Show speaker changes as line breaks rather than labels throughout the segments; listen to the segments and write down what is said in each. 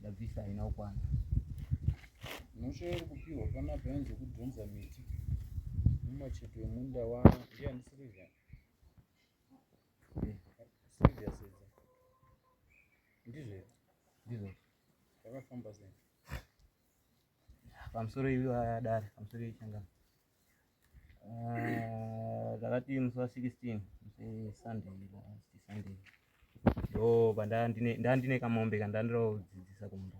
ndabvisa haina kukwana
unoshairi kupiwa panapa yanzi kudhonza miti mumacheto emunda wavo ndiyani sirivia sirivia sedza ndizve ndizvo zvakafamba sei
pamusoro iwe adari pamusoro iwe changana Ah, takati musi wa 16 musi sunday last sunday ndo pandandine kamombe kandandirodzidzisa kumba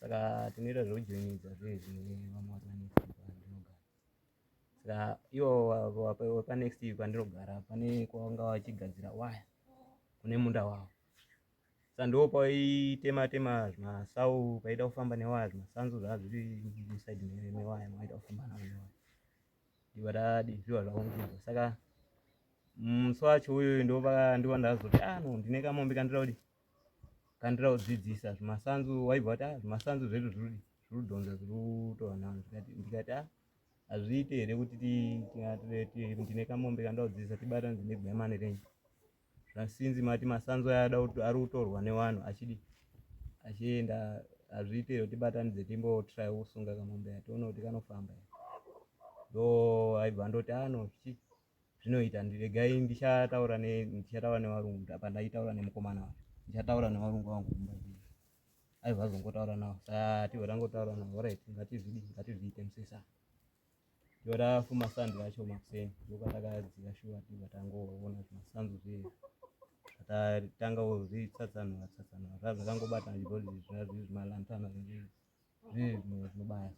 saka tinoita zvekujoinidza zve zvine vamwe watu vanext pandinogara saka ivo wapanext pandinogara pane kwavanga vachigadzira waya kune munda wavo sa ndo paitema tema zvimasau paida kufamba newaya zvimasanzu zvaa zviri musaidi mewaya maida kufamba nawo newaya ndivadadi zviva zvaungiza saka musi wacho uyoyo ndova ndiva ndazoti ah no ndine kamombe kandira kuti kandira kudzidzisa zvimasanzu waibva wati ah zvimasanzu zvedu zviri kudhonza zviri kutova navo ndikati ah hazviite here kuti ndine kamombe kandira kudzidzisa tibatanidzine buyamane renyu zvasinzi mati masanzu aya ari kutorwa nevanhu achidi achienda hazviite here tibatanidze timbotry kusunga kamombe ya tione kuti kanofamba ya ndo aibva ndoti ano ah, chi zvinoita ndiregai ndichataura ndichataura nevarungu apa ndaitaura nemukomana wa ndichataura nevarungu vangu kumba aibva azongotaura navo sa tibva tangotaura navo orit ngatizvidi ngatizviite musesana Yora fuma sando yacho makuseni ndoka takadzika shuwa tibva tangoona zvimasanzo zviye tatanga wozvitsatsanura tsatsanura zva zvakangobata zvibhodhi zvimalantana zvinobaya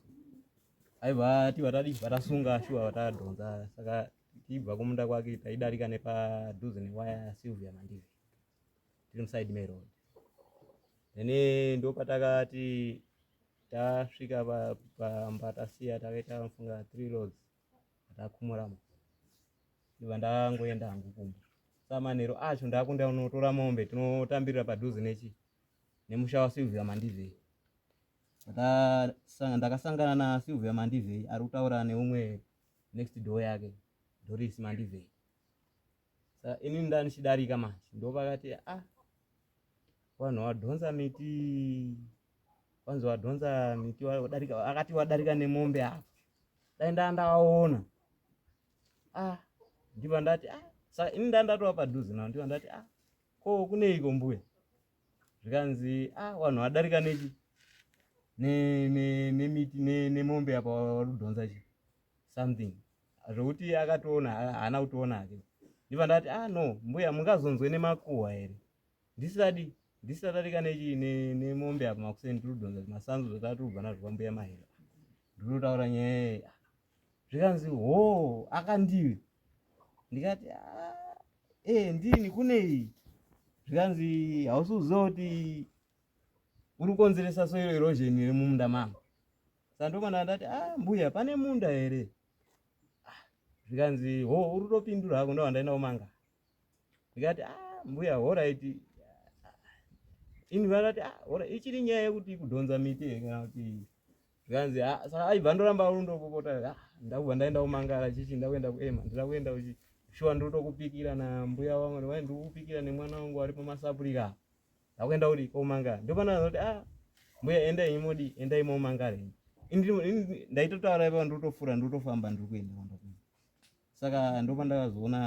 aiva tibva tadibva tasunga shuwa tadhonza saka tibva kumunda kwake taidarika nepadhuze newaya silvia mandivi tiri musaidi meroad then ndopatakati tasvika pamba tasiya takaita funga three loads takumuramo ndiva ndangoenda hangu kumba samanero acho ndakunda unotora mombe tinotambirira padhuze nechi nemusha wasilvia mandivei ndakasangana nasilvia mandivei ari kutaura neumwe next door yake doris mandivei sa ini ndanichidarika manje ndopakati a ah, vanhu vadhonza miti vanzi vadhonza miti wadarika akati wadarika nemombe apa dai ndaa ndavaona a ah, ndiva ndati a ah, sa ini ndaa ndatova padhuze navo ndiva ndati a ko kuneiko mbuya zvikanzi a vanhu vadarika nechi nemiti nemombe apa vari kudhonza chi something zvekuti iye akatoona haana kutoona hake ndiva ndati ah no mbuya mungazonzwe nemakuhwa here ndisati ndisati adarika nechii nemombe apa makuseni tiri kudhonza zvimasanzu zvatava tiri kubva nazvo kwambuya mahera ndiri kutaura nyaya zvikanzi hoo akandivi ndikati ah, ee eh, ndini kunei zvikanzi hausi kuziva kuti uri kukonzeresa soiro irozheni remumunda mangu sanduko ndandati a ah, mbuya pane munda here ah, zvikanzi ho uri topindura hako ndo wandaenda kumanga ndikati a ah, mbuya horaiti ini vandati hora ichiri nyaya yekuti kudhonza miti kana kuti zvikanzi saka aibva ndoramba rundopopota ndakubva ndaenda kumangara chichi ndakuenda kuema ndira kuenda uchi shuwa ndiri tokupikira nambuya wangu ndikupikira nemwana wangu ari pamasapurika akuenda kudi komangara ndopanoona kuti ah mbuya endai modi endai momangara ini ndaitotaura ipa ndotofura ndotofamba ndiri kuenda kwanda kuenda saka ndopa ndakazoona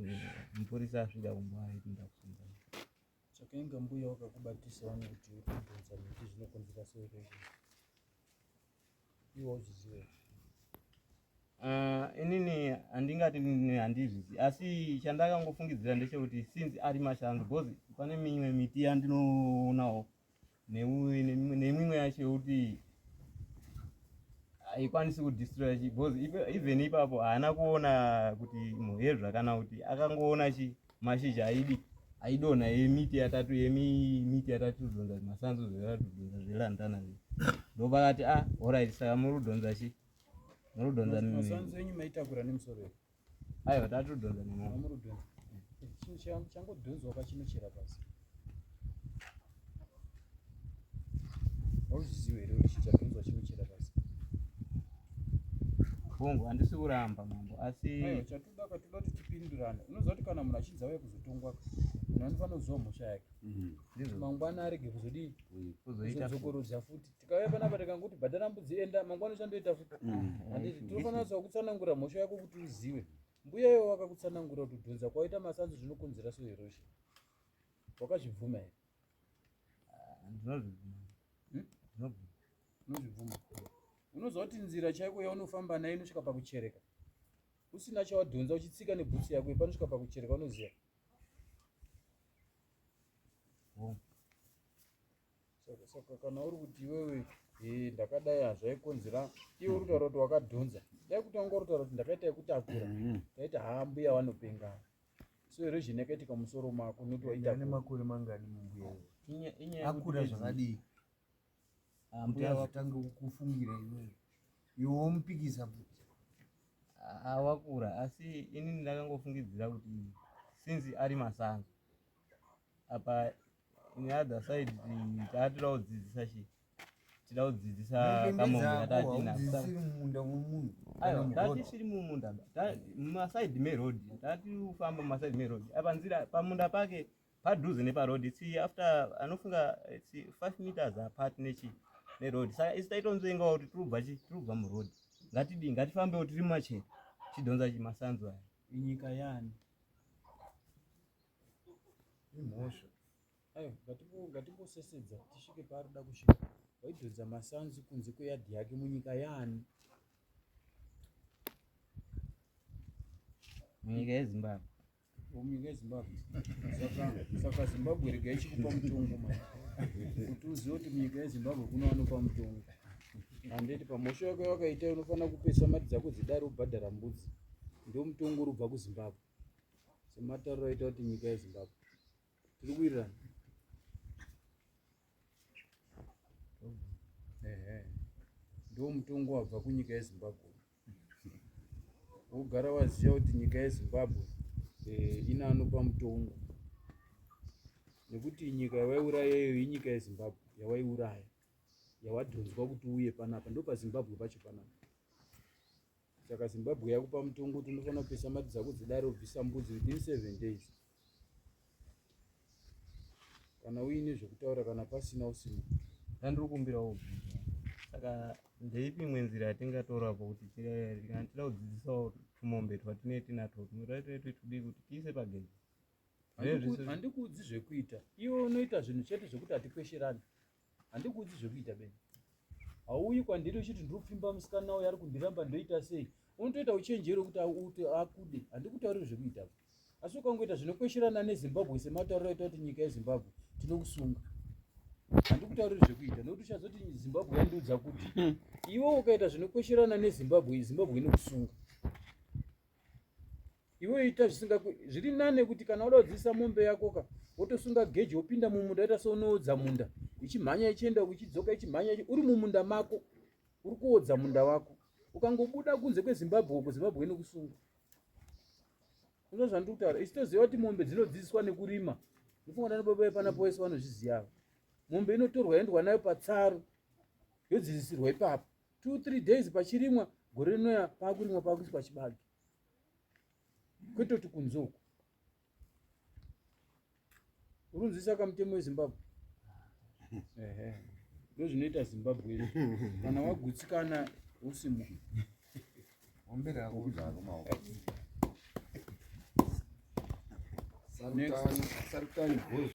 eh, mupurisa asvika kumba aiti ndakusunga saka
inga mbuya wakakubatisa wani kuti uibvunza miti zvinokonzera sei iwe uzvizive ah,
inini handingati handizvizi asi chandakangofungidzira ndechekuti since ari mashandu because pane mimwe miti yandinoonawo nemimwe yacho yekuti haikwanisi kudistroya chi because even ipapo haana kuona kuti muhezva kana kuti akangoona chii mashizha aidi aidonha yemiti yatatu yemiti yatatu donza masanzu zvetatu donza zvelandana ndopakati a ah, orit saka muri kudonza chi
muri kudonza
aiwa tatu
donza Hauzvizivi here kuti chichapinzwa chinochera pasi?
Hongu, handisi kuramba mambo asi eh, chatoda katoda kuti
tipindurane. Unoziva kuti kana munhu achinzi auye kuzotongwa munhu anofanira kuziva mhosva yake mm-hmm. mangwana arege kuzodii kuzodzokorodza futi tikauya panapa tikangokuti bhadhara mbudzi enda mangwana uchandoita futi mm-hmm. handiti tinofanira kuziva kutsanangura mhosva yako kuti uzive mbuya iwo wakakutsanangura kuti kudhonza kwaita masanzi zvinokonzera soherosha Wakazvibvuma here? Ah, ndinozvibvuma. Hmm? Ndinobvuma. Unozvibvuma. Unoziva kuti nzira chaiko yaunofamba nayo inosvika pakuchereka. Usina chawadhonza uchitsika nebhutsu yako ipanosvika pakuchereka unoziva. Home. saka saka kana uri kuti iwewe eh, ndakadai hazvaikonzera iwe uri kutaura kuti wakadhonza dai kuti wanga uri kutaura kuti ndakaita yekutakura Mhm. taiti haa mbuya vanopengana so erosion yakaitika musoro mako noti ane waitakura makore mangani
mumbuya uyu? Inya- inyaya yekuti akura bedzi- zvakadii Ah, kuti mbuya vako azotanga kukufungira iwewe iwe womupikisa futi ah, ah,
wakura asi inini ndakangofungidzira kuti since ari masango apa on the other side taatira kudzidzisa chi tira kudzidzisa kamoatisiri
mumunda
mumasaidi meroad taati kufamba mumasaidi meroad apa nzira pamunda pake padhuze neparoad si after anofunga si five meters apart nechi neroad saka isi taitonzvengawo kuti tirubva chi tirubva muroad ngatidii ngatifambewo tiri machena tidhonza chi masanzu aya inyika yani
imhosva ayo
ngatimbosesedza tisvike paari da kusvika waidhodza masanzi kunze kweyadhi yake munyika yaani
munyika yezimbabwe munyika
yezimbabwe saka zimbabwe rega ichikupa mutongo ma kuti uzive kuti munyika yezimbabwe kunowanopa mutongo handiti pamhosva yako yawakaita unofanira kupesa mati dzako dzidari ubhadhara mbudzi ndomutongo urubva kuzimbabwe sematariro aita kuti nyika yezimbabwe tiri kuwirirana ehe ndo mutongo wabva kunyika yezimbabwe wogara waziva kuti nyika yezimbabwe eh, ina anopa mutongo nekuti nyika yawaiurayeyo inyika yezimbabwe yawaiuraya yawadhonzwa kuti uye panapa ndopazimbabwe pacho panapa Saka Zimbabwe yakupa mutongo kuti unofanira kupisa mari dzako dzedare ubvisa mbudzi within seven days. Kana uine zvekutaura kana pasina usina. Ndandiri kumbirawo
bvisa. Saka ndeipi imwe nzira yatingatora po kuti kana tida kudzidzisawo tumombe twatine tinatwo tunoda tinetwe tudii kuti tiise pagedhi.
Handikuudzi zvekuita. Iwe unoita zvinhu chete zvekuti hatikwesherani. handikuudzi zvekuita beni hauyi kwandiri uchiti ndiri kupfimba musikana uyo ari kundiramba ndoita sei unotoita uchenjeri wekuti auti akude handikutauriri zvekuita asi ukangoita zvinokwesherana nezimbabwe sematauriro aita kuti nyika yezimbabwe tinokusunga handikutauriri zvekuita nokuti uchazoti zimbabwe yandiudza kuti hmm. iwe ukaita zvinokwesherana nezimbabwe zimbabwe inokusunga iwe ita zvisinga zviri nane kuti kana wada kudzidzisa mombe yako ka wotosunga geji wopinda mumunda ita seunoodza munda ichimhanya ichienda ichidzoka ichimhanya uri mumunda mako uri kuodza munda wako ukangobuda kunze kwezimbabwe uko zimbabwe inokusunga uno zvandiri kutaura isu toziva kuti mombe dzinodzidziswa nekurima ndofunga ndana baba epana poese vanozviziyavo mombe inotorwa yendwa nayo patsaru yodzidzisirwa ipapo two three days pachirimwa gore rinoya pakurimwa pakuiswa chibage kwetoti kunze uku urunzwisisa kamutemo wezimbabwe ndozvinoita zimbabwe iri kana wagutsikana usimu sarukani gozi